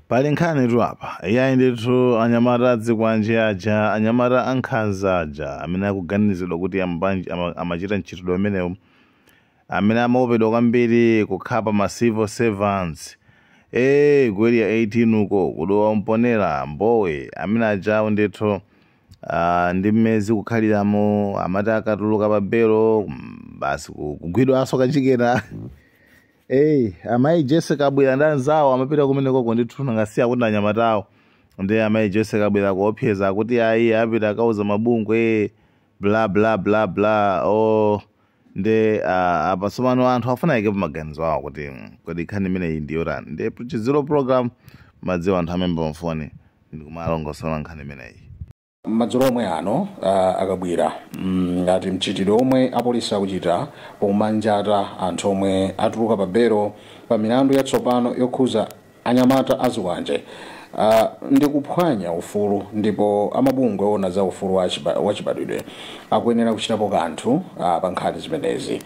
pali nkhani tu apa iyayi ndithu anyamata azikwanje aja anyamata ankhanza aja amene akuganizidwa kuti ambanji- ama- amachita mchitidwe umenewu amene amaopedwa kwambiri kukhapa ma civil servants ee ku Area 18 uko ku Dowa Mponela Mbowe amene ajawo ndithu ah, ndimmene zikukhaliramo amati akatuluka pa belo mm, basi ku- kugwidwanso kachikena Hey, amayi Jesse Kabwila ndi anzawo amapita kumenekoko ndithu nangasiya kuti anyamatawo ndi amayi Jesse Kabwila kuopseza kuti ayi apita akauza mabungwe bla bla bla bla o ndi uh, apa tsopano anthu afuna aikepo maganizo awo kuti mm, kodi nkhani imeneyi ndi yotani ndi Tchutchutchu program madziwa anthu amaimba mafoni ndikumalongosola nkhani imeneyi Madzulo omwe ano a, a Kabwila mm, ati mchitidwe omwe apolisi akuchita pomanjata anthu omwe atuluka pa belo pa milandu yatsopano yokhuza anyamata azikwanje a, ndi kuphwanya ufulu ndipo amabungwe owona za ufulu wa chiba- wa chibadwidwe akuyenera kuchitapo kanthu a, pa nkhani zimenezi.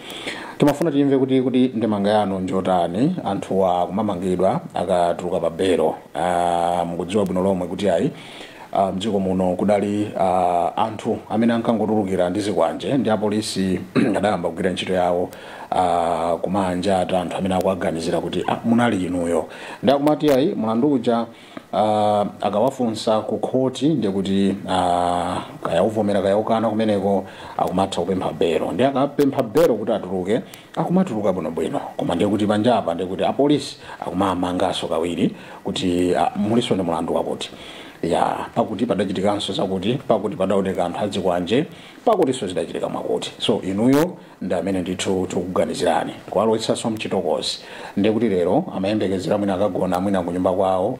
Timafuna timve kuti kuti ndemanga yanu njotani anthuwa akumamangidwa akatuluka pa belo. A, Mukudziwa bwino lomwe kuti ayi ah, mdziko muno kudali ah, anthu amene ankangotulukira ndi zikwanje ndi apolisi adayamba kugwira ntchito yawo ah, kumanjata anthu amene akuwaganizira kuti ah, munali inuyo ndi akumati ayi mlandu uja ah, akawafunsa ku khoti ndiye kuti ah, kaya uvomera kaya ukana kumeneko akumatha kupempha belo ndi akapempha belo kuti atuluke akumatuluka bwinobwino koma ndiye kuti panjapa ndiye kuti apolisi akumamanganso kawiri kuti ah, mulinso ndi mlandu wakuti ya pakuti padachitikanso zakuti pakuti padaoneka anthu azikwanje pakutinso zidachitika mwakuti so inuyo ndi amene ndithu tikuganizirani kuwalowetsanso mchitokozi ndiye kuti lero amayembekezera mwina akagona mwina kunyumba kwawo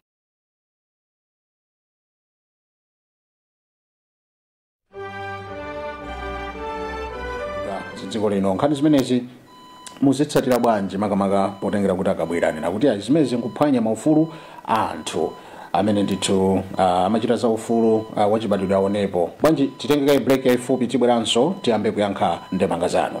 dziko lino nkhani zimenezi muzitsatira bwanji makamaka potengera kuti a Kabwila anena kuti ayi zimenezi nkuphwanya maufulu a anthu amene ndithu uh, amachita za ufulu uh, wachibadwidwe aonepo bwanji titenge kaye break yaifupi tibweranso tiyambe kuyankha ndemanga zanu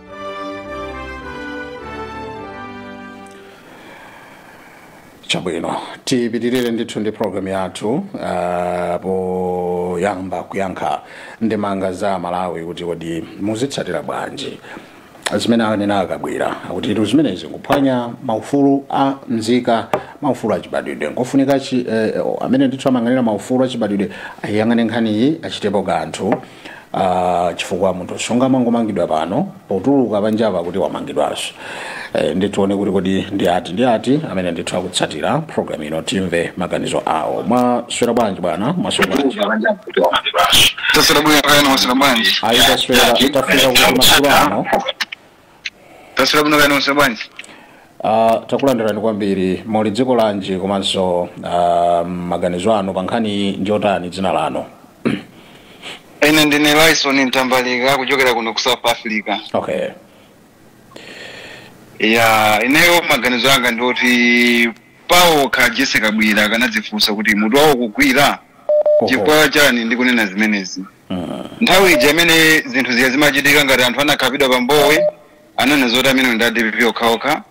chabwino tipitirire ndithu ndi programu yathu uh, poyamba kuyankha ndemanga za Amalawi kuti kodi muzitsatira bwanji zimene anena a Kabwila kuti zimenezi nkuphwanya maufulu a mzika maufulu achibadwidwe nkofunika chi- eh, amene ndithu amayang'anira maufulu achibadwidwe ayang'ane nkhaniyi achitepo kanthu Ah, chifukwa munthu sungamangomangidwa pano potuluka panjapa kuti wamangidwanso eh, nditione kuti kodi ndi ati ndi ati amene ndithu akutsatira program ino timve maganizo awo mwaswera bwanji bwana mwaswera bwanji taswera bwino kaya inu mwaswera bwanji ayi taswera tafika kuti masiku ano taswera bwino kaya nonse bwanji Uh, takulandirani kwambiri muli dziko lanji komanso uh, maganizo anu pa nkhani njotani dzina lanu ine ndine lyson mtambalika kuchokera kuno ku south africa okay ya ineyo maganizo anga ndi oti pawokha a jessie kabwira akanadzifunsa kuti mutu wawo ukugwira chifukwa chani ndikunena zimenezi Nthawi ija imene zinthu zija zimachitika ngati anthu anakhapidwa pa Mbowe ananena zoti amenewo ndi a dpp okhaokha.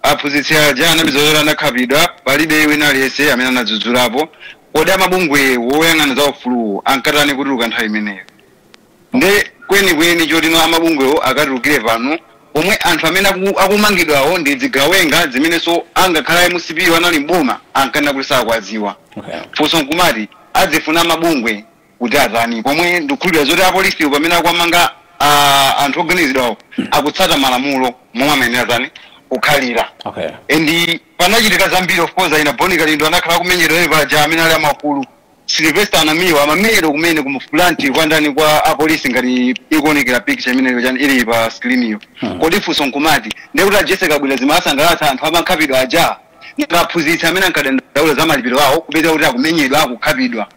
Aphunzitsi aja anapeza zoti anakhapidwa palibe wina aliyense amene anadzudzulapo. Kodi amabungwewo oyang'ana za ufuluwo ankatani kutuluka nthawi imeneyo? Nde kwenikweni choti amabungwewo akatulukire pano pomwe anthu amene aku- akumangidwawo ndi zigawenga zimenenso angakhale a mcp wo anali m'boma ankanena kuti sakuwadziwa. Funso nkumati akufuna amabungwe kuti atani pomwe ndikukhulupirira zoti apolisiwo pamene akuwamanga ah, anthu oganizidwawo akutsata malamulo momwe amayenera tani kukhalira okay and panachitika zambiri of course ena a bon kalindo anakhala akumenyedwa ene paja amene ali a mkulu sylvester namiwa amamenyedwa kumene ku front kwandani kwa apolisi ngati ikuonekera picture imeneyo chani ili pa screen iyo kodi funso nkumati ndekuti a jessie kabwira zimawasangalatsa anthu amakhapidwa aja nanga aphunzitsi amene ankadandaula za malipiro awo kupezeka kuti akumenyedwa akukhapidwa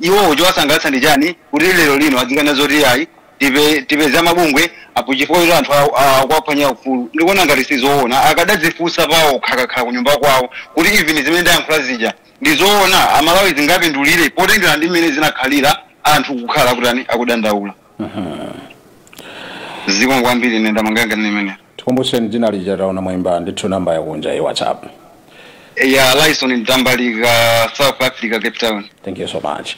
iwowo chowasangalatsa ndi chani kuti lero lino adzikanena zoti ayi tipe- tipeza mabungwe apo chifukwa choti anthu awo- awo akuwaphwanyira ufulu ndikuona ngati sizoona akadadzifunsa pawokha akakhala ku nyumba kwawo kuti even zimene ndayankhula zija ndi zoona amalawi zingawapindulire potengera ndi mmene zinakhalira anthu kukhala akutani akudandaula zikomo kwambiri ine maganizo anga ndi amenewo Tikumbuseni dzina lija taona mwaimba ndithu namba yakunja ya whatsapp. Ya Lyson Mtambalika South Africa Cape Town Thank you so much.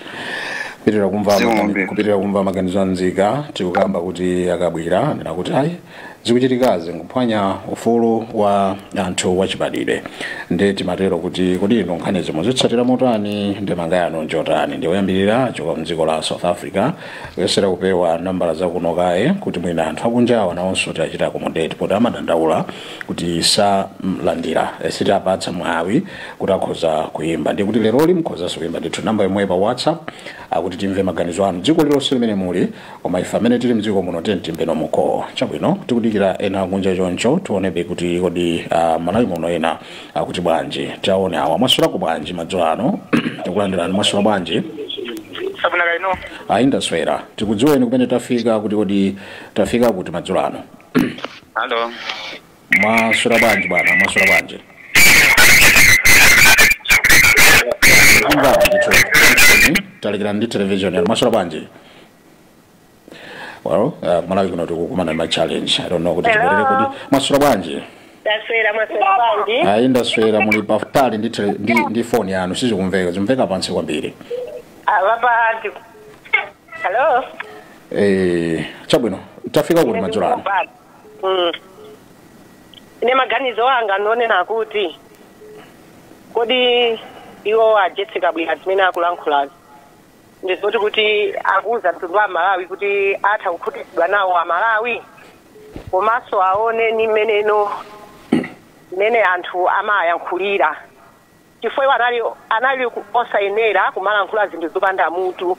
Pitirira kumva Zikomo magani- kwambiri. kupitirira kumva maganizo a nzika tikukamba kuti a kabwira anena kuti ayi zikuchitikazi nkuphwanya ufulu wa anthu wachibadwidwe ndi timatero kuti kodi inu nkhanizi mwazitsatira motani nde maganizo anu njotani ndi oyambirira kuchoka mdziko la south africa kuyesera kupewa nambala zakuno kaye kuti mwina anthu akunjawa nawonso tiwachite accommodate poti amadandaula kuti sitiwalandira sitiwapatsa mwawi kuti akhoza kuyimba ndiye kuti leroli mukhozanso kuyimba ndithu namba yomweyo pa whatsapp kuti timve maganizo anu dziko lilonse limene muli koma ife amene tili mdziko muno tiyeni timvane momo chabwino tikudikira ena akunja choncho tionebe kuti kodi ah, malawi muno ena akuti bwanji taone awa mwaswerako bwanji madzulo ano tikulandirani mwaswera bwanji sabuna kaino ayi ndaswera tikudziweni kumene tafika kuti kodi tafika kuti madzulo ano halo mwaswera bwanji bwana mwaswera bwanji Mvani ndithu. Mvani, talikirani ndi televishoni mwaswera bwanji well uh, kumalawi kuno tikukumana ndi ma challenge i don't know kuti Hello? tibwerere kuti mwaswera bwanji ndaswera mwaswera bwanji ayi ndaswera muli patali ndi, tele- ndi, ndi foni yanu sizikumveka zimveka pansi kwambiri avapanji halo eh, chabwino tafika kuti madzulo ano Mm. ine maganizo anga ndi onena kuti kodi iwo ajetseka bwino zimene akulankhulazi ndi zoti kuti akuuza mtundu wa malawi kuti atha kukhutitsidwa nawo amalawi komanso aoneni mmeneno mmene anthu amayankhulira chifukwa iwo anali anali ku- osayenera kumalankhula zinthu zopanda mutu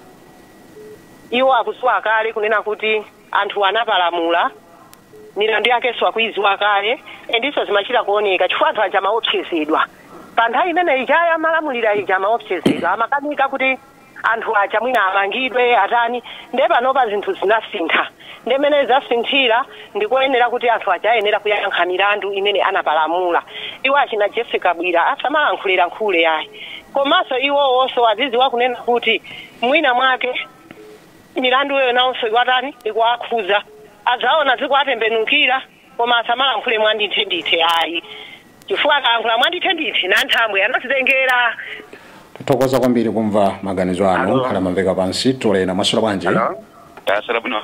iwo akudziwa kale kunena kuti anthu anapalamula milandu yakenso akuiziwa kale endiso zimachita kuoneka chifukwa anthu aja amaopsezedwa pa nthawi imene ija amalamulira ija amaopsezedwa amakanika kuti anthu aja mwina amangidwe atani nde panopa zinthu zinasintha nde mene zasinthira ndikuyenera kuti anthu aja ayenera kuyankha milandu imene anapalamula iwo achina Jessie Kabwila asamalankhulelankhule ayi komanso iwowonso aziziwa kunena kuti mwina mwake Milanduyo nawonso ikuwatani? Ikuwakhudza. Adzaona zikuwatembenukira, koma asamalankhule mwandithendithe ayi, chifukwa akalankhula mwandithendithe, nanthambwe anazitengera. Tathokoza kwambiri kumva maganizo anu Hello. nkhani amamveka pansi timvere mwasula bwanji Hello? Tasala bwino.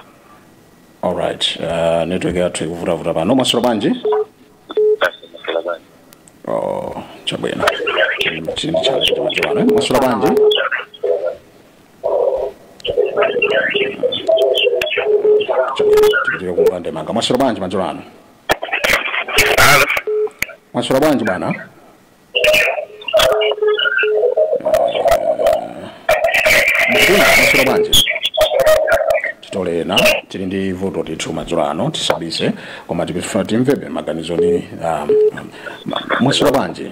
alright uh, network yathu ikuvutavuta pano mwasula bwanji Tasala bwanji. oh, chabwino chinthu chakachita madziwano mwasula bwanji tikufuna kumva ndemanga mwaswera bwanji madzulo ano Alo. mwaswera bwanji bwana mkulu mwaswera bwanji titolena tili ndi vuto ndithu madzulo ano tisabise koma tikufuna timvebe maganizo ni um, um, mwaswera bwanji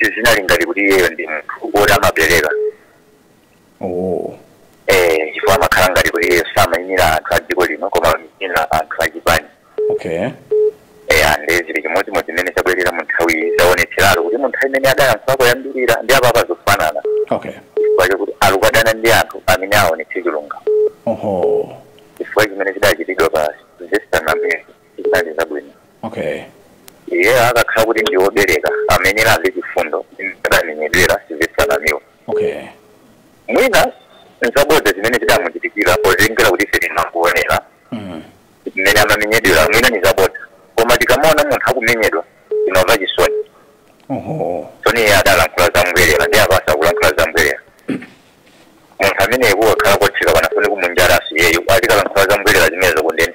sizinali ngati kuti iyeyo ndi munthu woti amabereka oh. eh, chifukwa amakhala ngati kuti iyeyo samayimira anthu a dziko lino koma amayimira anthu a chipani okay eh, ande zili chimodzimodzi zimene zabwerera mu nthawi iyi zaonetseratu kuti mu nthawi imene adayankhula koyambirira ndi apapa zofanana okay chifukwa chakuti alukadana ndi anthu amene aonetse chilungamo oho chifukwa chimene chidachitidwa pa sylvester namiwa zinali zabwino okay iye akakhala kuti ndi wobereka amene alibe chifundo adamenyedwera Sylvester Namiwa okay mwina nzabodza zimene zidamuchitikira potengera kuti ife tinakuonera mm. mmene amamenyedwera mwina ni zabodza koma tikamaona munthu akumenyedwa timamva chisoni oho soni iye adalankhula zambwerera ndi apaso akulankhula zambwerera munthu amene kutakhala kotheka panafunika kumunjataso iyeyo azikalankhula zambwerera zimenezo kundende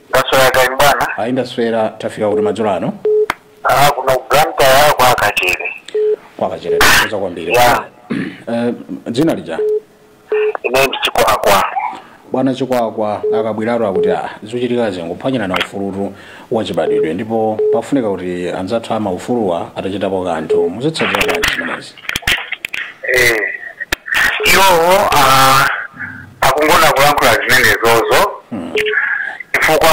ndaswera kaya bwana ayi ndaswera tafika kuti madzulo ano ah kuno Blantyre kwa Kachere kwa Kachere tikuza kwambiri Yeah. Eh, dzina lija ine ndi chikwakwa bwana chikwakwa a Kabwiratu akuti a zochitikazi nkuphwanyirana ufulutu wachibadwidwe ndipo pafunika kuti anzathu amaufuluwa atachitapo kanthu muzitsatira bwanji zimenezi eh iwo ah akungofuna kulankhula zimenezozo chifukwa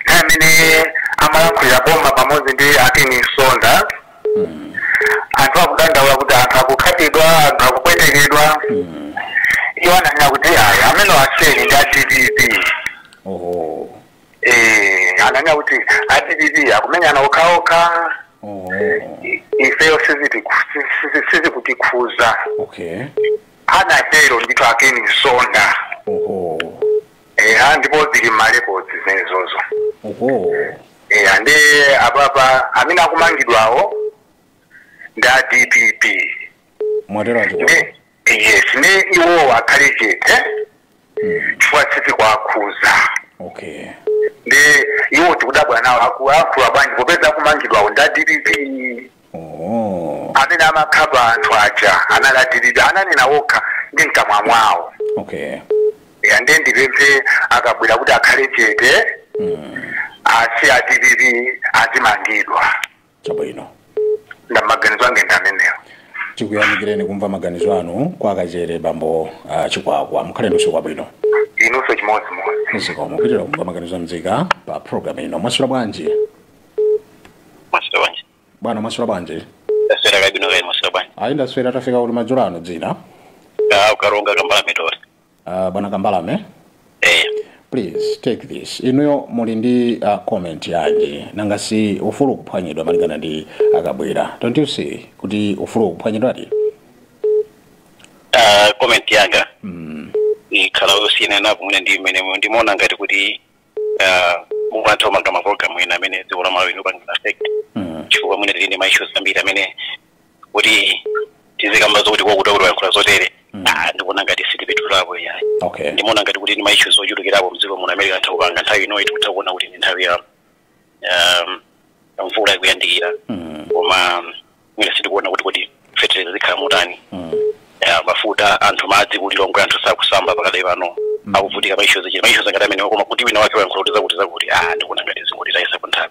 nthawi imene amalankhulira boma pamodzi ndi a Ken Msonda anthu akudandaula kuti anthu akukhapidwa anthu akupwetekedwa iwo ananena kuti ayi amene asiyeni ndi a dpp oho Eh, ananena kuti a dpp akumenyana okhaokha oho ifeyo sizitiku- sizi- sizikutikhuza okay Anatero ndithu a Ken Msonda. Oho. Eya ndipo zili mmarecords zimenezozo. Oho. Eya ndi apapa amene akumangidwawo ndi a DPP. Mwatero a Chikwakwa. Yes nde iwowo akhale chete. chifukwa sizikuwakhuza okay ndi iwo tikudabwa nawo aku- akukuwa bwanji popeza akumangidwawo ndi a dpp oh amene amakhapa anthu aja anali a dpp ananena wokha ndi mkamwa mwawo okay Ya, ndiye ndipemphe a Kabwira kuti akhale chete asiye a dpp azimangidwa chabwino nde maganizo anga ndi amenewo tikuyamikireni kumva maganizo anu kwa Kachere bambo uh, chikwakwa mukhale ndi usiku wabwino inunso chimodzimodzi zikomo kupitirira kumva maganizo amzika pa programu ino mwaswera bwanji mwaswera bwanji bwana mwaswera bwanji ndaswera bwino kaya mwaswera bwanji ayi ndaswera tafika kuti madzulo ano dzina ku Karonga Kambalame tore Uh, bwana Kambalame eh please take this inuyo muli ndi uh, comment yanji nanga si ufulu ukuphwanyidwa malingana ndi a Kabwira don't you see kuti ufulu ukuphwanyidwadi uh, comment yanga ikhala yosiyanapo mwina ndi mmene mu- ndimaona ngati kuti uh, mungu anthu omanga maprogramu ena amene dziko la malawi lopanga affect Mm. chifukwa mwina tili ndi maissues ambiri amene kuti tizikamba zokuti kwakuta kuti wayankhula zotere Mm. Ah, ndikuona ngati sitipitulapo yayi okay ndimaona ngati kuti ndi maishu ochulukirapo mdziko muno amene anthu kupanga nthawi inoyi tikutha kuona kuti ndi nthawi ya um, ya mvula ikuyandikira Mm, koma um, mwina sitikuona kuti kuti feteleza zikhala motani mm, ya mafuta anthu madzi ku Lilongwe anthu sakusamba pakadali pano akuvutika maishu zichita maishu ngati amenewa koma kuti wina wake wayankhula kuti zakuti zakuti ah ndikuona ngati zingoti tayitsa nthawi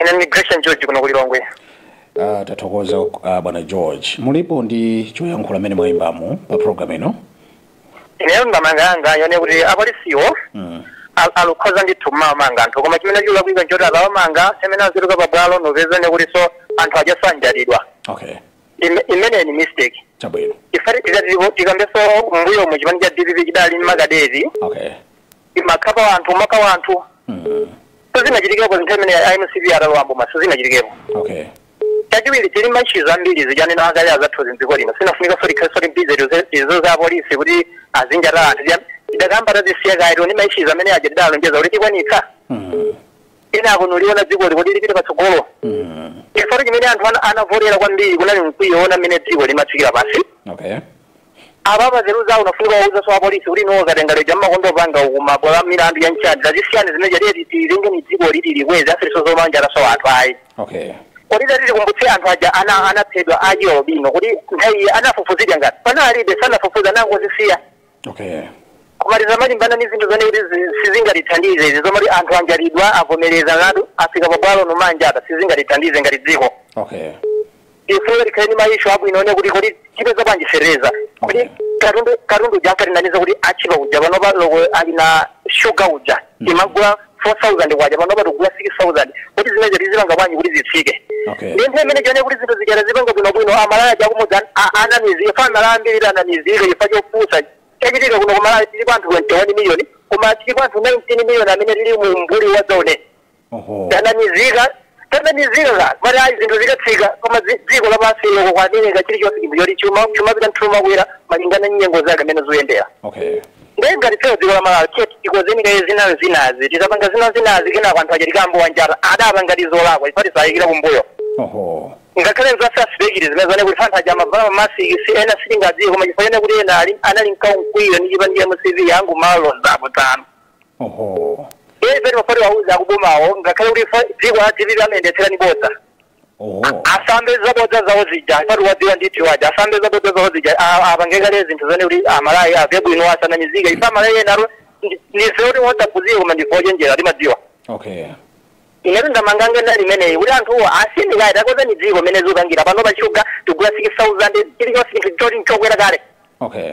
ine ndi gresham george kuno ku lilongwe Ah, tathokoza ah, bwana george mulipo ndi choyankhula mmene mwayimbamu pa programu ino ineyo ndamanga yanga yonena kuti apolisiwo Mm. al- alukhoza ndithu mmamanga anthu koma chimene chikulakwika nchoti akawamanga samamanga aziluza pabwalo nkupezanso kuti anthu aja sanjatidwa okay Ime- imeneyi ni mistake chabwino chifa tikambeso mbuyo mu chipani cha dpp chidali ndi makadeti okay imakhapa anthu imakhapa anthu sizinachitikepo nthawi imene a mcp atalowa mboma sizinachitikepo okay chachiwiri tili maishu ambiri zijanena akale azathu mdziko lino sinafunikanso likhalenso bize ndi za apolisi kuti azinjata anthu Tida- tidakamba tazisiya kaye tione maishu amene aja tidalonjeza kuti tikwanitsa ena akunuliona dziko likuti lipite patsogolo chifukwa chimene anthu ana- anavotera kwambiri unali mkwiyo ona mmene dziko limatsikira pansi okay Apapa zeru zawo unafunika kuwauzanso apolisi kuti no zatengera anthu aja mmangopanga kumabwalo a milandu ya nchadi zazisiyani zimene jadeti tilenge ni dziko liti likweza osatinso zomanjatanso anthu ayi okay kodi tati tikumbutse anthu aja ana anaphedwa achialubino kuti nthawi anafufuzidwa ngati panalibe sanafufuza nangozisiya okay koma tizamalimbana ni zinthu zonena kuti zi- sizingatithandize izi zomati anthu anjatidwa avomereza ngati afika pabwalo nkumanjata apa sizingatithandize ngati dziko okay ifeyo tikhale ndi maishu abwino onena kuti kodi tipeza bwanji feteleza kodi Okay. katundu katundu uja ankatinamiza kuti atchipa uja panopa olo ali ngati shuga uja timagula 4000 kwacha panopa tikugula 6000 kuti zimenezo tizipanga bwanji kuti zitsike Okay. ndi nthawi imene tione kuti zinthu zijana zipanga bwinobwino amalawi aja akumudzi anamizika chifa amalawi ambiri anamizika chifa chopusa chachitika kuno kumalawi tilipo anthu 21 miliyoni koma tilipo anthu 19 miliyoni amene tili mu umbuli wa zone Oho. tanamizika tanamizika amati ayi zinthu zikatsika koma dzi- dziko lapansi lonse kwatheka chilichonse chinthu choti chuma chuma pita mthulu makwera malingana ndi nyengo zake amene zoyendera Okay. ndiye ngati ifeyo dziko la malawi tiye tikozeni kaye zina zinazi tizapanga zina zinazi kenako anthu aja tiyambe kuwanjata adapangadi zolakwa chifa tisayikire kumbuyo Oho. ngakhale masasipekiti amene zonena kuti chifa anthu aja amavala mamasiki si ena sitingadziwe koma chifukwa chonena kuti ena ali- anali mkawo mkwiyo ndi chipani cha mcp yangu malo lonzapo tano Oho. Iye ife timafuna tiwauze akubomawo ngakhale kuti fa- dziko la dpp amayendetsera ni bodza. Oho. Asayambe zabodza zawo zija paja wadziwa ndithu paja asayambe zabodza zawo zija a- apange kale zinthu zoona kuti aMalawi amve bwino asanamize ife aMalawi ena lero ndife kuti wosaphunzira koma ndife ochenjera timadziwa. Okay. inetu ndemanga yanga ndili imeneyi kuti anthuwo asinthike ayi takonzani dziko mmene zikupangira pano pa shuga tigula 6000 chilichonse chinthu choti nchokwera kale Okay.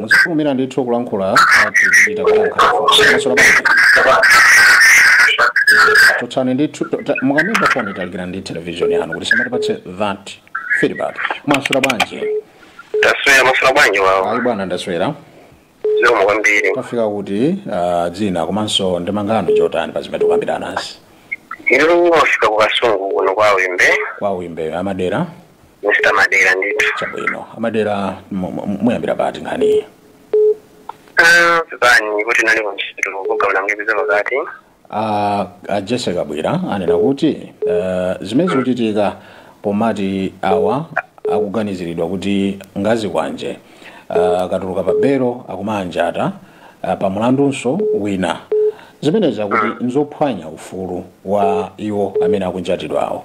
muzitumira ndithu kulankhula tichita kuyankha mwaswera chotsani ndithu mukamaimba foni talikira ndi televishoni yanu kuti isamatipatse that feedback mwaswera bwanji taswera mwaswera bwanji wawo ayi bwana ndaswera zikomo kwambiri tafika kuti ah, dzina komanso ndemanga yanu njotani pa zimene tikukambiranazi iru mwafika ku kasungu kuno kwa wimbe kwa wimbe a Madera Mr. Madera ndithu. chabwino a Madera mu- mu- muyambira pati nkhaniyi Ah, pepani kuti ndinali kuntchito kugawula ndaipeza pakati. a a jessie kabwila anena kuti eh, zimene zikuchitika pomati awa akuganiziridwa kuti ngazikwanje eh, akatuluka pa belo akumawanjata eh, pa mulandunso wina zimenezi akuti nzophwanya ufulu wa iwo amene akumanjatidwawo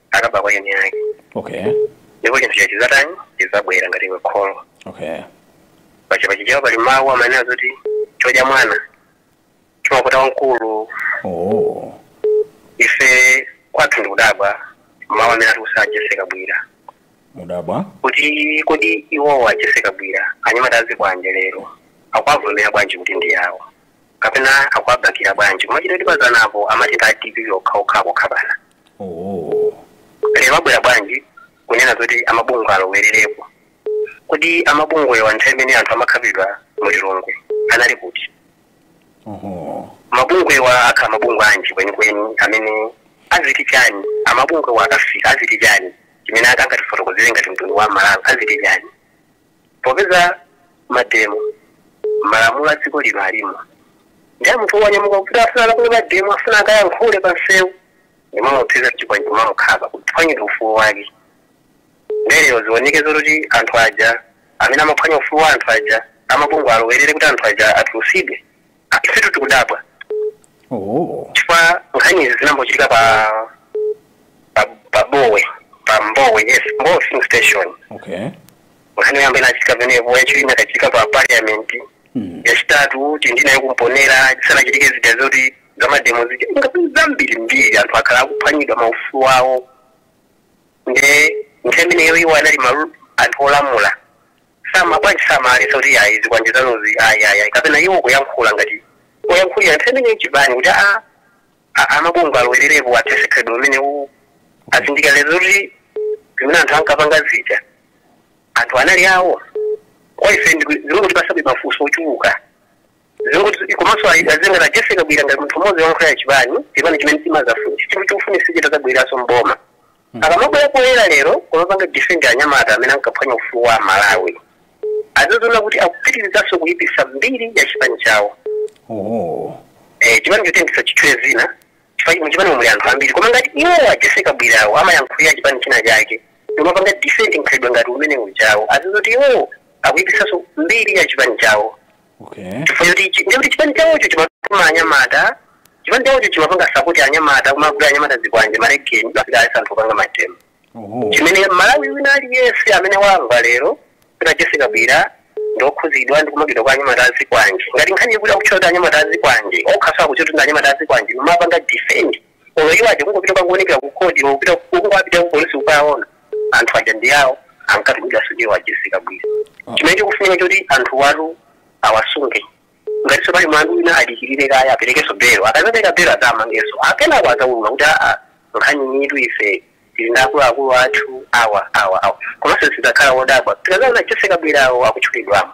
akaba kwa eni ake okay ndipo chinthu chake chizatani chizabwera ngati iwe kholo okay pachipachi chawo pali mawu amanena zoti chodya mwana chimakola wamkulu oh ife kwathu ndikudabwa mawu amene atiuza a jessie kabwila mukudabwa kuti kodi iwowo a jessie kabwila anyamata azikwanje lero akuwavomera bwanji kuti ndi awo kapena akuwabaikira bwanji kumakhala kuti pazanapo amachita a dpp okhaokha akukhapana lero abwera bwanji kunena zoti amabungwe alowererepo kodi amabungwewa nthawi imene anthu amakhapidwa mu lilongwe anali kuti mabungwewa akhala mabungwe anji kwenikweni amene aziti chani amabungwewa akafika aziti chani chimene angatifotokozere ngati mtundu wa amalawi aziti chani Popeza mademo malamulo a dziko lino alimo, ndiye munthu wanyamuka kuti afuna alankhule pa mademo, afuna akayankhule pa msewu, ndimamuopseza chikwanje kumamukhapa, kuphwanyira ufulu wake. Ndiye lero zioneke zoti anthu aja amene amaphwanya ufulu wa anthu aja, amabungwe alowerere kuti anthu aja atulutsidwe. ifetu tikudabwa Oh. chifukwa nkhani izi zinambochitika pa pa pa bowe pa mbowe yes mbowe filling station Okay. nkhani yoyamba inachitika penepo yachiwiri inakachitika pa parliament Mm. yachitatu tili nayo ku mponela chisanachitike zija zoti zamademo zija ngapi zambirimbiri anthu akhala akuphwanyidwa maufulu awo nde nthawi imeneyo iwo anali maru anthu olamula sama bwanji samaletsa kuti ayi zikwanje zanuzi ayi ayi ayi kapena iwo kuyankhula ngati oyankhulira nthawi imeneyo chipani kuti a a- amabungwe alowererepo athese khalidwe umene uwu azindikira lero kuti zimene anthu ankapanga zija anthu anali awo kwa ife ndi- zimangotipasabe mafunso ochuluka zimangoti komanso ayi- azingati a jessie kabwila ngati munthu mmodzi woyankhulira chipani chipani chimene chimazafunsa chinthu chikufunisa chitazabweraso mboma Akamabwera poyera lero kumapanga defend anyamata amene ankaphwanya ufulu wa Amalawi, aziziona kuti akupitirizanso kuipisa mbiri ya chipani chawo. Eh, chipani choti ndisachitchule dzina chifukwa muchipani muli anthu ambiri koma ngati iwo a Jessie Kabwilawo amayankhulira chipani china chake ndimapanga defend mkhalidwe ngati umene ujawo aziziona kuti iwo akuipisanso mbiri ya chipani chawo. okay chifukwa choti ichi ndiye kuti chipani chawocho chimatuma anyamata chipani chawocho chimapanga sapoti anyamata kumagula anyamata zikwanje malegeni azikalesa anthu opanga mademo oho chimene malawi wina aliyense amene wamva lero kuti jessie kabwila ndiokhuzidwa ndi kumangidwa kwa anyamata azikwanje ngati nkhani yekuti akutchota anyamata azikwanje okhaso akuchotunda anyamata azikwanje nomapanga defend Olo iwo aja kungopita kwangoonekera ku court olo kupita kukupita ku polisi kukaona anthu aja ndi awo ankatibwira sudiwo a Jessie Kabwila. Chimene chikufunika choti anthu awatu awasunge ngatiso pali mlandu wina adikirire kaye aperekenso belo akazapereka belo azamangenso kenako azaulula kuti aa nkhani iyitu ife tili ndi akuluakulu athu awa awa awa komanso sitidzakhala wodabwa tikazaona a Jessie Kabwilawo akutchulidwamo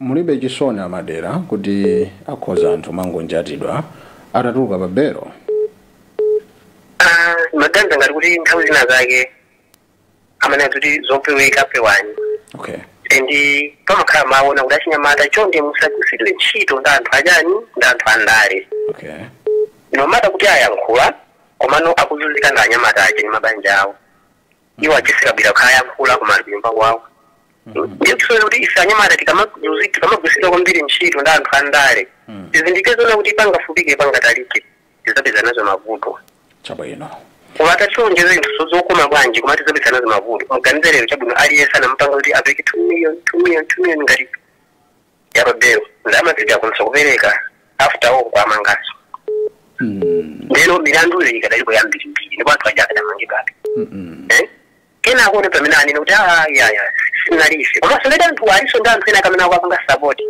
Mulibe chisoni a Madera kuti akhoza anthu mangonjatidwa atatuluka pa belo. Ah, maganiza ngati kuti nthawi zina zake amanena kuti zopeweka pewani Okay. and pamakhala mawu onena kuti achinyamata chonde musagwiritsidwe ntchito ndi anthu achani ndi anthu andale Okay. nomata kuti ayankhula komano akuzunzika ndi anyamata aja ndi mabanja awo iwo a jessie kabwila akayankhula koma ali kunyumba kwawo ndiye tisoera kuti ife anyamata tikamaguzi- tikamagwisidwa kwambiri ntchito ndi anthu andale tizindikire zonena kuti pangafupike pangatalike tizapeza nazo mavuto chabwino koma atatilonjeza zinthu so- zokoma bwanji koma tizapeza nazo mavuto muganize lero chabwino aliyense anamupanga kuti apereke 2 million 2 million 2 million ngati ya pa belo ndalamazidi akwanisa kupereka after all kuwamangaso ndeno milandu iyi ikadalipo yambirimbiri ndipo anthu aja akadamangidwabe Eh? kenako aone pamene anene kuti "Ah, yaya sinali ife komanso ngati anthu aliso ndi anthu ena amene akapanga sapoti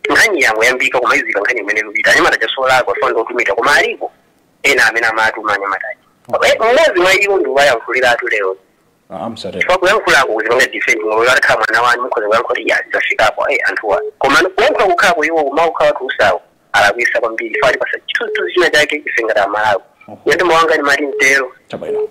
nkhani yangoyambika kumaizika nkhani imene ikupita anyamata aja solakwa aja ndi otumidwa koma aliko ena amene amatuma anyamata aja mmodzi mwa iwo ndi wayankhuliratu lero Ah, ah, musatero. chifukwa kuyankhulako kuzipanga defend mulungu atakhala mwana wanu mukhoza kuyankhula kuti ya zafikapo ayi anthuwa koma kuyankhula kukhalako iwo kumaukhala utsi uja alakwitsa kwambiri chifukwa atipatsa chithunzithunzi china chake ife ngati amalawi inde mawu anga ndimati mtero Chabwino.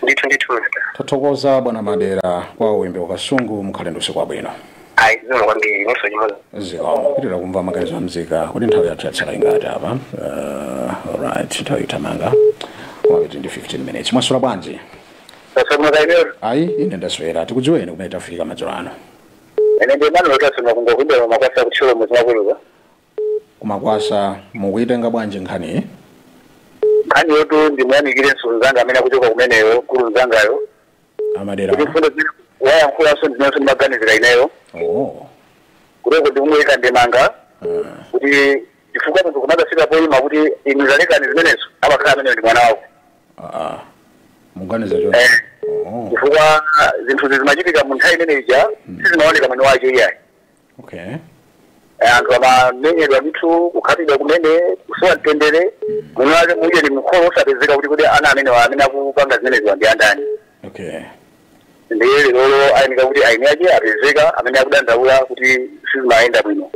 ndithu ndithu mr Tathokoza bwana Madera kwa Wimbe ku Kasungu mukhale ndi usiku wabwino. ayi zikomo kwambiri inunso chimodzimodzi zikomo tipitira kumva maganizo a nzika kuti nthawi yathu yatsala ingati apa uh, right nthawi itamanga mwakati ndi 15 minutes mwaswera bwanji tasomoka ineyo ayi ine ndaswera tikudziweni kumene tafika madzulo ano ine ndi mano lotasoma kuno kwa Makwasa ku Thyolo muzi makuluka kumakwasa mukuyitenga bwanji nkhaniyi nkhaniyotu ndimuyamikire msulu mzanga amene akuchoka kumeneyo mkulu mzangayo a Madera kuti mfundo zimene wayankhulanso inenso ndimaganizira ineyo oh. kuteko ndingoyika ndemanga kuti chifukwa munthu kumadzafika poyima kuti inu talekani zimenezo amakhala ameneyo ndi mwana wako ah. muganiza choncho Eh. oh. chifukwa zinthu zimachitika mu nthawi imene ija sizimaoneka mwini wake iyayi okay Eh, anthu amamenyedwa ndithu kukhapidwa kumene kusowa mtendere mwini wake muja ndi makolo osapezeka kuti kuti ana amene wa- amene akupanga zimeneziwa ndi andani okay ndiye lero ndiye kuti eni ake apezeka amene akudandaula kuti sizimayenda bwino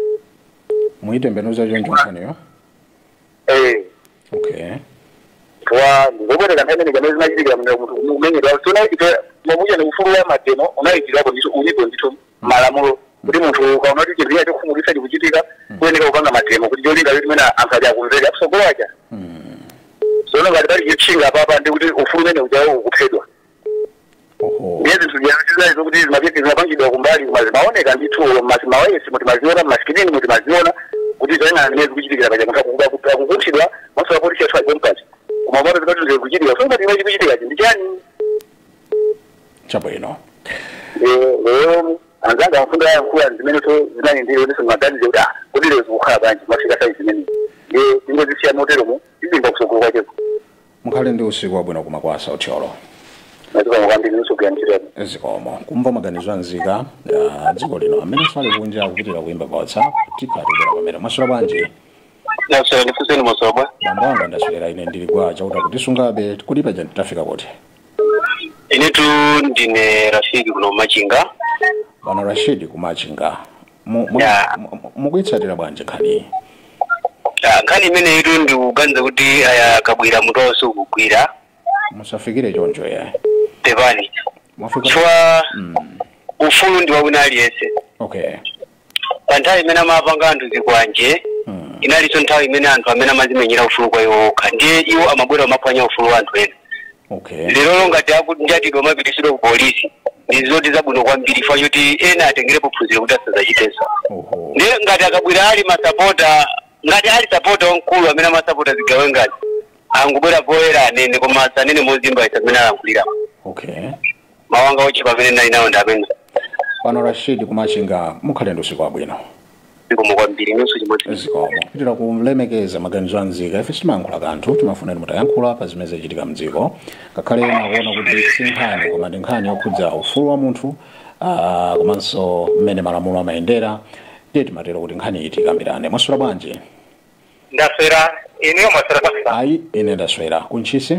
mwaitembenuza choncho nkhaniyo eh okay koma ndizomveka nthawi imene kamene zimachitika mmene munthu kumenyedwa sono ife mwamuja ndi ufulu wa mademo unaikidwapo ndithu ulipo ndithu malamulo kuti munthu ukaona kuti chinthu china chokhumudwitsa chikuchitika uyenera kupanga mademo kuti cholinga choti mwina anthu ali akumvera akutsogolo aja sono ngati pali chotchinga apapa ndi kuti ufulu umene ujawo ukuphedwa oho ndiye zinthu zija sizinali zokuti zimapepi zimapangidwa kumbali koma zimaoneka ndithu olo mmasi mawayilesi mu timaziona mmasikilini mu timaziona kuti zoyang'ana zimene zikuchitikira paja munthu akukuba kuti akukunthidwa pamaso apolisi athu ali pompo koma kumaona zinthu zili kuchitika so ngati chimene chikuchitikachi ndi chani chabwino lero anzanga amfundo ayankhula zimenezo zinali ndiri kuti simaganize kuti ah kodi lero zikukhala bwanji mwafika size imene ndiye tingozisiya moteromo tidziwa kutsogolo kwacheko Mukhale ndi usiku wabwino ku Makwasa Thyolo. Zikomo kwambiri mupitirize ntchito. Zikomo. Kumva maganizo a nzika ya dziko lino amene ali kunja akupitira kuimba pa WhatsApp tikhatikira pamene mwaswera bwanji Ndaswera ndifunse inu madzulo ano. bambo anga ndaswera ine ndili kwa chauta kutisungabe kodi paja tafika kuti Inetu ndine Rashid kuno Machinga. bwana Rashid ku Machinga Mu- mu- Yeah. mu- mu- mukuitsatira bwanji nkhaniyi Ah, nkhani imeneyitu ndikuganiza kuti awa a Kabwila mutu wawo sukugwira musafikire choncho yayi pepani mwafika chifukwa Mm, ufulu ndi wawina aliyense okay pa nthawi imene amapanga anthu zikwanje Mm, inalinso nthawi imene anthu amene amazimenyera ufulu kwa iwo okha ndiye iwo amabwera amaphwanya ufulu wa anthu ena okay lero ngati akunjatidwa kumapititsidwa ku polisi ndi zoti zabwino kwambiri chifukwa choti ena atengerepo phunziro kuti asazachitenso oho ndiye ngati a Kabwila ali masapota ngati ali sapota wamkulu amene amasapota zigawengazi angobwera poyera anene koma sanene mozimbaitsa mmene alankhulira okay mawu anga ochepa amene ndinali nawo ndi amene bwana Rashid ku Machinga mukhale ndi usiku wabwino zikomo kwambiri inunso chimodzi zikomo kupitiriza kulemekeza maganizo a mzika ife sitimayankhula kanthu timafuna kuti mutayankhula pa zimene zachitika mdziko ngakhale ena akuona kuti si nkhani koma ndi nkhani yokhudza ufulu wa munthu ah, komanso mmene malamulo amayendera ndiye timatero kuti nkhani iyi tikambirane mwaswera bwanji ndaswera inuyo mwaswera bwanji ayi ine ndaswera ku Ntchisi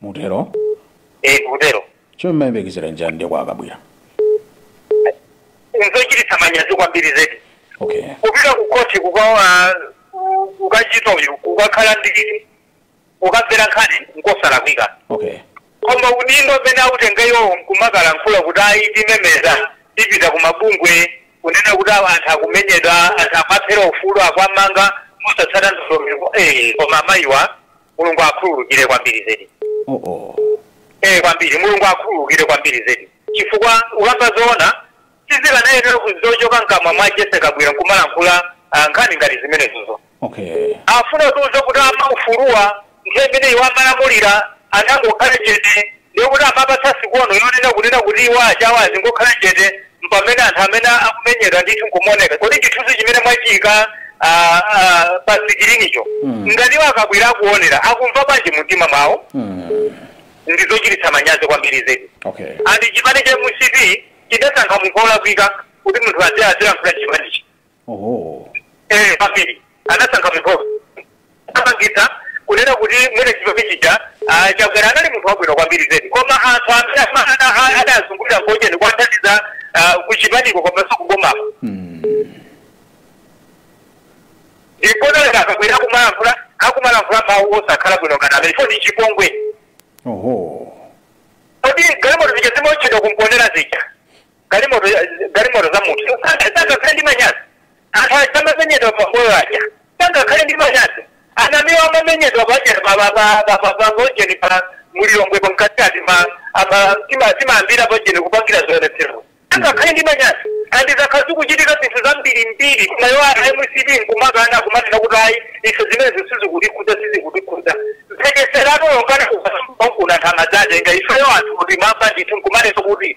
mutero eh kutero chomwe mumayembekezera nchani ndiye kwa a Kabwila nzochititsa manyazi kwambiri zedi okay kupita ku khoti kukachita uyu kukakhala ndi kukamvera nkhani nkosalakwika okay koma udindo umene autenga iwo nkumakalankhula kuti ayi timemeza tipita ku mabungwe kunena kuti awa anthu akumenyedwa anthu amawaphera ufulu akuwamanga mosatsata ndondomeko eh koma amayiwa mulungu akhululukire kwambiri zedi oh, oh. ee kwambiri mulungu akhululukire kwambiri zedi chifukwa kukamba zoona sizikanayenera kuzochoka mkamwa mwa Jessie Kabwila nkumalankhula ah, nkhani ngati zimenezozo okay afuna kutiuza kuti a maufuluwa nthawi imene iwo amalamulira anangokhala chete Ndiye kuti amawapatsa sikono yonena kunena kuti iwo achawa azingokhala chete mpamene anthu amene akumenyedwa ndithu nkumaoneka. Kodi chithunzi chimene mwachiika a a pa sikilinicho ngati iwo a Kabwila akuonera akumva bwanji mumtima mwawo? Ndizochititsa manyazi kwambiri zedi. Okay. And chipani cha MCP chidasankha munthu olakwika kuti munthu azilankhula chipanichi. oho eh kwambiri anasankha munthu amangitsa kunena kuti mwini chipani chija a Chakwera anali munthu wabwino kwambiri zedi koma anthu amene ama- ana- a- adazungulira ngojeni kuwathandiza ah, kuchipaniko komanso kubomapo Mm. ndiponoleka a Kabwila akumalankhula akumalankhula mawu osakhala bwino ngati amenewo ndi chipongwe oho kodi galimoto zija zimaotchedwa ku Mponela zija galimoto galimoto za munthu sangakhale ndi manyazi anthu aja amamenyedwa pa Mbowe aja sangakhale ndi manyazi a Namiwa amamenyedwa paja paujeni pa mu Lilongwe pakatikati timayambira paujeni kupangira zionetsero sangakhale ndi manyazi and zakhala zikuchitika zinthu zambirimbiri koma iwo a MCP nkumakana kumanena kuti ayi ife zimenezo sizikutikhudza sizikutikhudza mphekesera atolongana kubankunantha madzatenga ifeyo anthu kuti mamba ndithu nkumanena kuti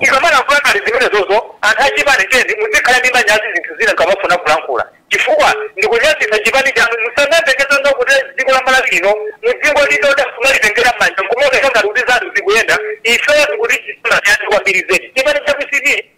tikamalankhula ngati zimenezozo anthu achipani cheni muzikhala ndi manyazi zinthu zina nkamafuna kulankhula chifukwa ndikunyazitsa chipani chanu musamayembekezera kuti dziko la malawi lino mudzingolitola kumalitengera mmanja nkumaoneka ngati kuti zanu zikuyenda ifeyo tikuti chipani chani kwambiri zedi chipani cha mcp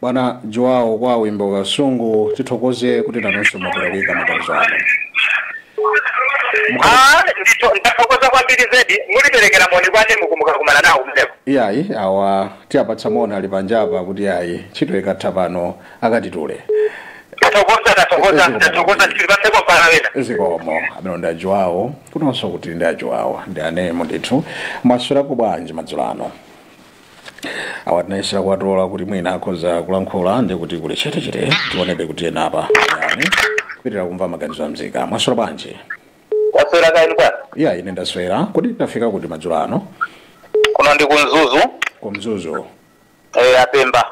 Bwana Joao kwa Wimbe ku Kasungu tithokoze kuti nanonso mwapereka maganizo anu. Ah, nditho- ndathokoza kwambiri zedi mutiperekere moni kwa amene mukukumana nawo kumeneko Iyayi awa tiwapatsa moni ali panjapa kuti ayi ntchito ikatha pano akatitule. ndathokoza ndathokoza ndathokoza ndipatseko mpata wina zikomo amenewo ndi a Joao kunonso kuti ndi a Joao ndi anemo ndithu mwaswerako bwanji madzulo ano awa tinayesera kuwatola kuti mwina akhoza kulankhula ndi kuti kuli chetechete tionebe kuti ena apa yani kupitiriza kumva maganizo a mzika mwaswera bwanji ndaswera kaya inu bwana iya ine ndaswera kodi tafika kuti madzulo ano kuno ndi ku mzuzu ku mzuzu eh, apemba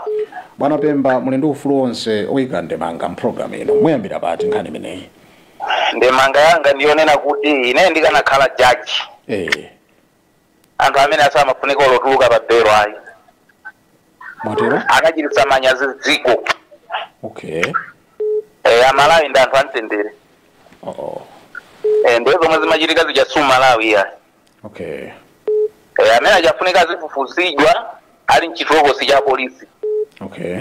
bwana pemba muli ndi ufulu wonse oyika ndemanga mpulogalamu ino muyambira pati nkhani imeneyi ndemanga yanga ndiyonena kuti ine ndikanakhala jaji eh anthu amenewa samafunika olo kutuluka pa belo ayi mwatero anachititsa manyazi dziko okay e, amalawi ndi anthu amtendere oh, oh. e, ndiye zomwe zimachitika zija si umalawi ayi okay e, amene aja afunika azifufuzidwa ali mchitokosi cha polisi okay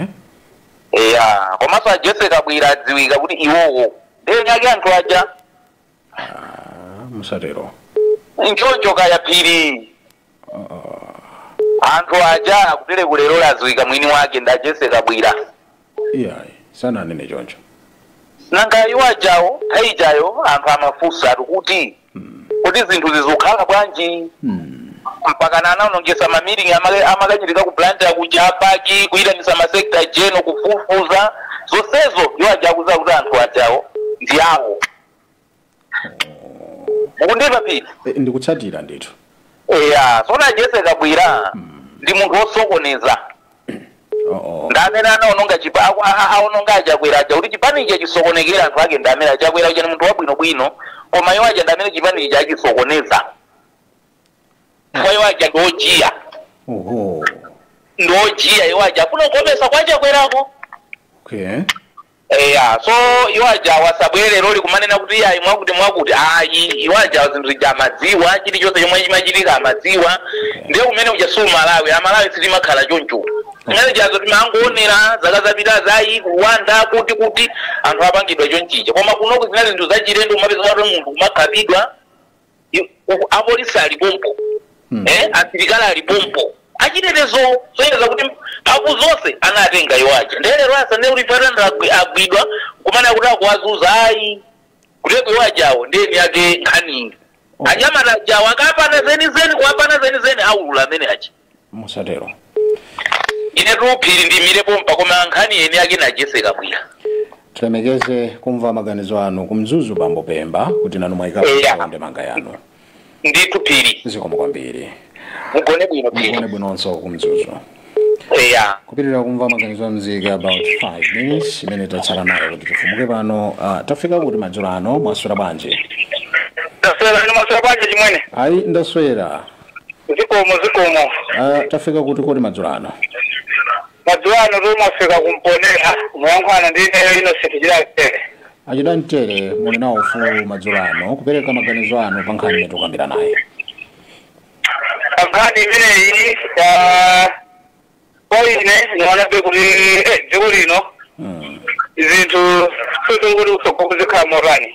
eya komanso a jessie kabwila adziwika kuti iwowo ndi eni ake anthu aja Ah, musatero nchoncho kaya phiri anthu aja kutereku lero adziwika mwini wake ndi a jessie kabwila iyayi sananene choncho nanga iwo ajawo nthawi ijayo anthu amafunsa ati kuti kodi zinthu zizikhala bwanji mpakana anaonongesa ma meeting amakachitika ku blantyre kuja mpaka kuyitanisa ma secretary general kufufuza zonsezo iwo aja akudziwa kuti anthu ajawo ndi awo mukundimva phiri Eh, ndikutsatira ndithu eya so a jessie kabwila ndi munthu wosokoneza oh, oh. ndi amene anaononga chipa aku- a- a- aononga achakwera aja kuti chipani ichi chisokonekere anthu ake ndi amenewa chakwera uja ni munthu wabwinobwino koma iwo aja ndi amene chipani ichi achisokoneza kwa iwo aja ndi ojiya Oho. ndi ojiya iwo aja afuna kukomesa kwa achakwerako okay Eya, so iwo ajawa asabwere leroli kumanena kuti iyayi mwakuti mwakuti ayi iwo ajawa zinthu zija amadziwa chilichonse chomwe chimachitika amadziwa ndiye umene uja si umalawi amalawi sitimakhala choncho zimene zijazo timangoonera zaka zapitazi ku rwanda kuti kuti anthu apangidwa chonchija koma kunoku zinali zinthu zachilendo kumapeza kuti munthu kumakhapidwa apolisi ali pompo hmm. eh, asilikali ali pompo achitetezo zosonyeza kuti mphamvu zonse anatenga iwo aja ndiye lero asanene kuti atani agwidwa kumene akuti akuwazuza ayi kuteroko iwo ajawo ndi eni ake nkhaniyi anyamata ajawo akawapana zenizeni kuwapana zenizeni aulula amene aja musatero ine Ruphiri ndiyimire pompa koma nkhani yeniyeni yake ndi a Jessie Kabwila tilemekeze kumva maganizo anu ku Mzuzu bambo Pemba kuti nanu mwayikapo Eya. ndemanga yanu ndithu Phiri zikomo kwambiri mugone bwino Phiri mugone bwinonso ku Mzuzu eya kupitiriza kumva maganizo a mzika about 5 minutes imene tatsala nayo kuti tifumuke pano uh, tafika kuti madzulo ano mwaswera bwanji taswera ndi mwaswera bwanji chimwene ayi ndaswera zikomo zikomo Ah, tafika kuti kodi madzulo ano madzulo ano mwafika ku Mponela mukuyankhulana ndi ineyo Innocent Chidamtere a Chidamtere muli nawo ufulu madzulo ano kupereka maganizo anu pa nkhani imene tikukambiranayi nkhani imeneyi ah, kwa ine ndikuonabe kuti eh, dziko lino Mm. zinthu sizikuti kutsogoloku zikhala motani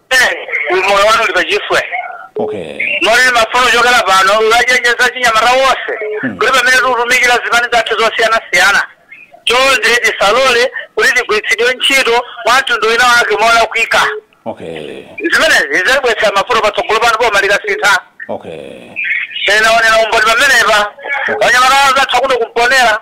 umoyo wanu uli pachiswe okay moti ine ndimafuna kuchokera pano kuwachenjeza achinyamata onse Hmm. kuti pamene tikutumikira zipani zathu zosiyanasiyana chonde tisalole kuti tigwiritsidwe ntchito mwa mtundu wina wake molakwika okay zimenezi zidzabweretsa mavuto patsogolo pano boma likasintha okay tinaonera umboni pamenepa anyamata anzathu kuno ku Mponela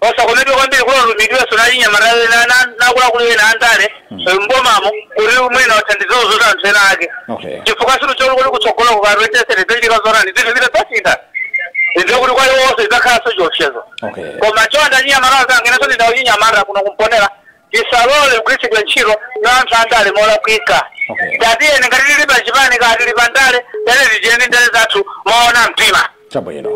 osakomedwe kwambiri kuti alumikizidwenso na achinyamata ena na- na akuluakulu ena andale eh, m'bomamo kuti mwina athandize zofuna za anthu ena ake Okay. chifukwa sitidziwa kuti kutsogoloku kapena zichitika zotani zinthu zitadzasintha ndiye kuti kwa iwonso idzakhalanso chiopsezo Okay. koma chonde achinyamata anzanga inenso ndine wachinyamata kuno ku Mponela tisalole kugwiritsidwa ntchito na anthu andale molakwika Okay. tatiyeni ngati tili pa chipani kaya tili pa ndale tiyeni tichiteni ndale zathu moona mtima Chabwino.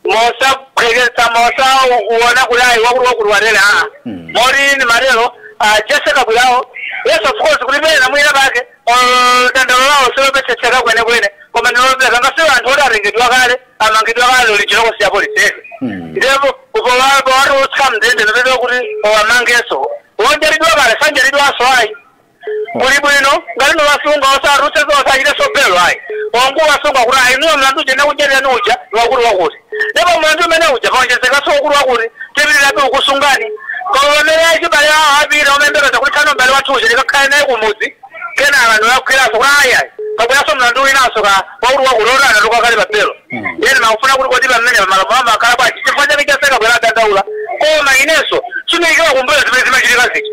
mosaphweketsa mosaona kuti ayi wakuti wakuti watere aa moti ndimatero a Jessie Kabwilawo yes of course kuti pena mwina pake ah, dandalo lawo silomvetsetseka kwenikweni koma ndi lomvekanso kwa anthu oti atengedwa kale amangidwa kale ali m'chitokosi cha polisi ndipo powapo awatulutsa m'ndende n'kupezeka kuti awamangenso wonjatidwa kale sanjatidwanso ayi kuli bwino ngati n'kuwasunga osawatulutse osachite za belo ayi ongowasunga kuti ayi niwo mlandu uja takugwirirani uja niwakuti wakuti ndipo mlandu umene uja paonjezekanso wakuti wakuti tipitirabe kukusungani koma pamene achibale awo apita omayembekeza kuti tsano mbale wathu uja ndikakhale naye kumudzi kenaka n'kuwagwiranso kuti ayi ayi kabweranso mlandu winanso ka wakuti wakuti otani mukadali pa belo ndiyeno ndimafunsa kuti kodi pamene pamalamulo amakhala bwanji chifukwa chake a Jessie Kabwila adandaula koma inenso sindiikira kumbuyo zimene zimachitika zija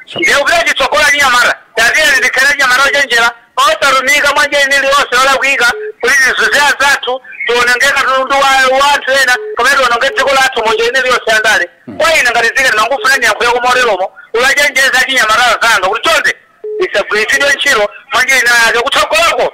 Ndiye kupita chitsogolo achinyamata. Tatiyeni tikhale achinyamata ochenjera, osatumika mwa njira ina iliyonse yolakwika kuti tizunze anzathu, tiwononge katundu wa anthu ena, kapena tiwononge dziko lathu mu njira ina iliyonse ya ndale. Kwa ine ngati Zikani ndimangofuna ndiyankhuleko moteromo kuwachenjeza achinyamata anzanga kuti chonde tisagwiritsidwe ntchito mwa njira inayake kutsogoloko.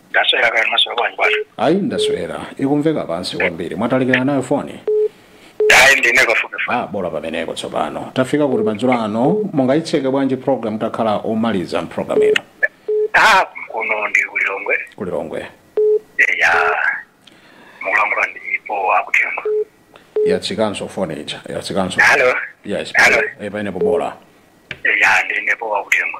ndaswera kaya maswera bwanji bwana ayi ndaswera ikumveka pansi kwambiri mwatalikirana nayo foni ayi ndine kafupifupi ah bola pamenepo tsopano tafika kuti madzulo ano mungayitseke bwanji program takhala omaliza mprogram ino ah kuno ndi kulilongwe kulilongwe ya mukulankhula ndi Akuthengo yatsikanso foni ija yatsikanso halo yes Hello. eh, pamenepo bola ya ndinepo akuthengo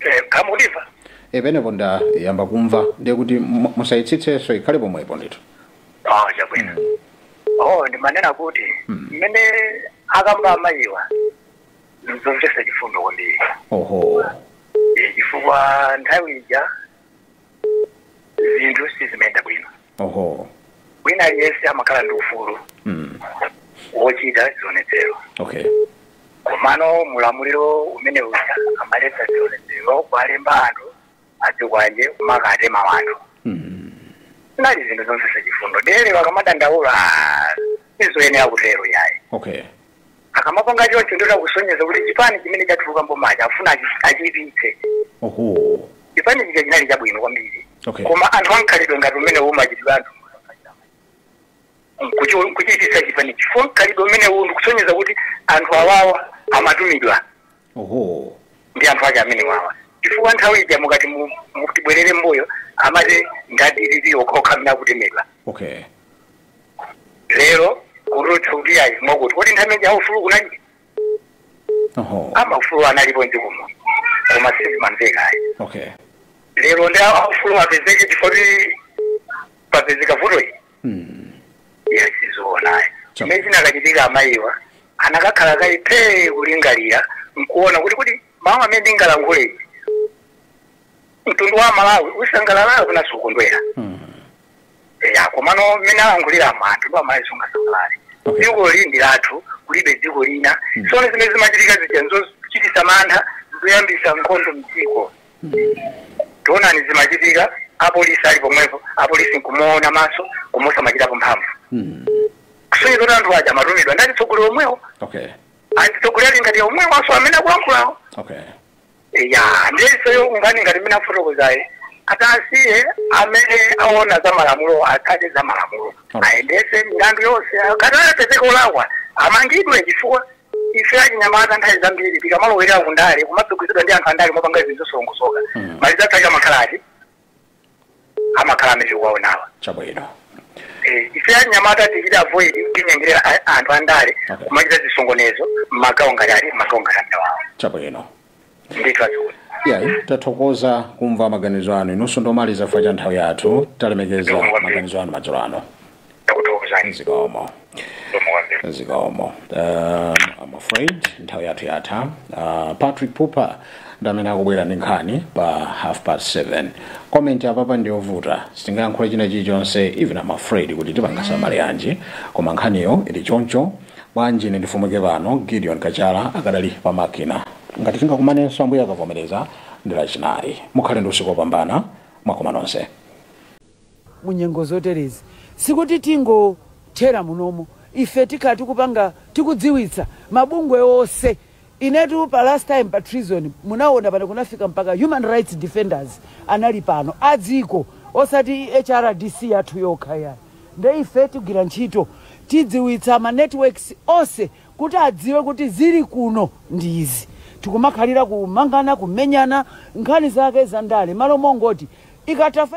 Eh, kaya mukundimva e pamenepo ndayamba kumva ndiye kuti mu- musayitsitsenso ikhale pomwepo ndithu oh chabwino oh ndimanena kuti mmene akamba amayiwa nzomvesa chifundo kwambiri oho Eh, chifukwa nthawi ija zinthu sizimayenda bwino Oho. wina aliyense amakhala ndi ufulu Mm. wochita zionetsero Okay. komano mulamuliro umene uja amaletsa zionetsero kuwalemba anthu adzikwanje kumakatema wanthu Mm. zinali zinthu zomvesa chifundo ndiye lero akamadandaula sizoyenera kutero yayi Okay. Akamapanga choncho ndiye kuti akusonyeza kuti chipani chimene chatuluka m'bomachi akufuna achi- achiipitse. oho Chipani chija chinali chabwino kwambiri. Okay. Koma anthu amkhalidwe ngati umene umachitidwa ndi anthu nkuchi- nkuchiipitsa chipani chifukwa mkhalidwe umene uwu ndikusonyeza kuti anthu awawa amatumidwa Ohoo. ndi anthu ake amenewawa chifukwa nthawi ija mukati tu- tibwerere mbuyo amati ndi a DPP okhokha amene akutemedwa Okay. lero kurutsa kuti ayi mwakuti kodi nthawi ija aufulu kunalibe Ohoo. amaufulu analipo mdzikomo koma sizimamveka ayi Okay. lero ndi aufulu apezeke chifukwa choti papezeka vuto iyi iyayi sizoona ayi Chama. chimene chinakachitika amayiwa anakakhala kayi phee kulingalira nkuona kuti kuti mawu amene ndingalankhulewa mtundu wa malawi usangalala nawo kapena sukondwera ya komano mmene alankhulira mtundu wa malawi sungasangalale Okay. dzikoli ndi lathu kulibe dziko lina sono zimene zimachitika zija nzochitisa mantha zoyambisa nkhondo mdziko taonani zimachitika apolisi ali pomwepo apolisi nkumaona maso koma osamachitapo mphamvu kusonyeza kuti anthu aja amatumidwa ndi atsogoleri omwewo okay atsogoleri ngati omwewo aso amene akulankhulawo okay ya ndiye iwowo ngati mmene afotokozera atasiye amene aona za malamulo atsate za malamulo Alright. ayendese milandu yonse akadzapezeka olakwa amangidwe chifukwa Ife achinyamata nthawi zambiri tikamalowerera ku ndale timatsogozedwa ndi anthu andale mopanga zinthu zosalongosoka mm. maliza sakatha amakhala kuti amakhala amene tikuwaonawa chabwino eh, ife achinyamata tichita avoid kutinyengerera anthu andale okay. kumachita zisokonezo mmagawo ngati a mmagawo ngati amenewawo chabwino ndithu achule ya tathokoza kumva maganizo anu inunso ndi omaliza chifukwa cha nthawi yathu talemekeza maganizo anu madzulo ano ndakuthokozani zikomo zikomo kwambiri zikomo uh, I'm afraid nthawi yathu yatha uh, patrick pupa ndamene akubwera ndi nkhani pa half past 7 comment apapa ndiyovuta sitingayankhule china chilichonse even I'm afraid kuti tipanga summary yanji koma nkhaniyo ili choncho bwanji ine ndifumukire pano gideon kachala akadali pa makina ngati tingakumanenso ambuye akavomereza ndi lachinayi mukhale ndi usiku wopambana mwakoma nonse mu nyengo zoterezi sikuti tingothera munomo ife tikhala tikupanga tikudziwitsa mabungwe onse Inetu pa last time pa treason munawona pano kunafika mpaka human rights defenders anali pano a dziko osati hrdc yathu yokha yayi nde ife tigwira ntchito tidziwitsa ma networks onse kuti adziwe kuti zili kuno ndi izi tikumakhalira kumangana kumenyana nkhani zake za ndale malo mongoti ikatafa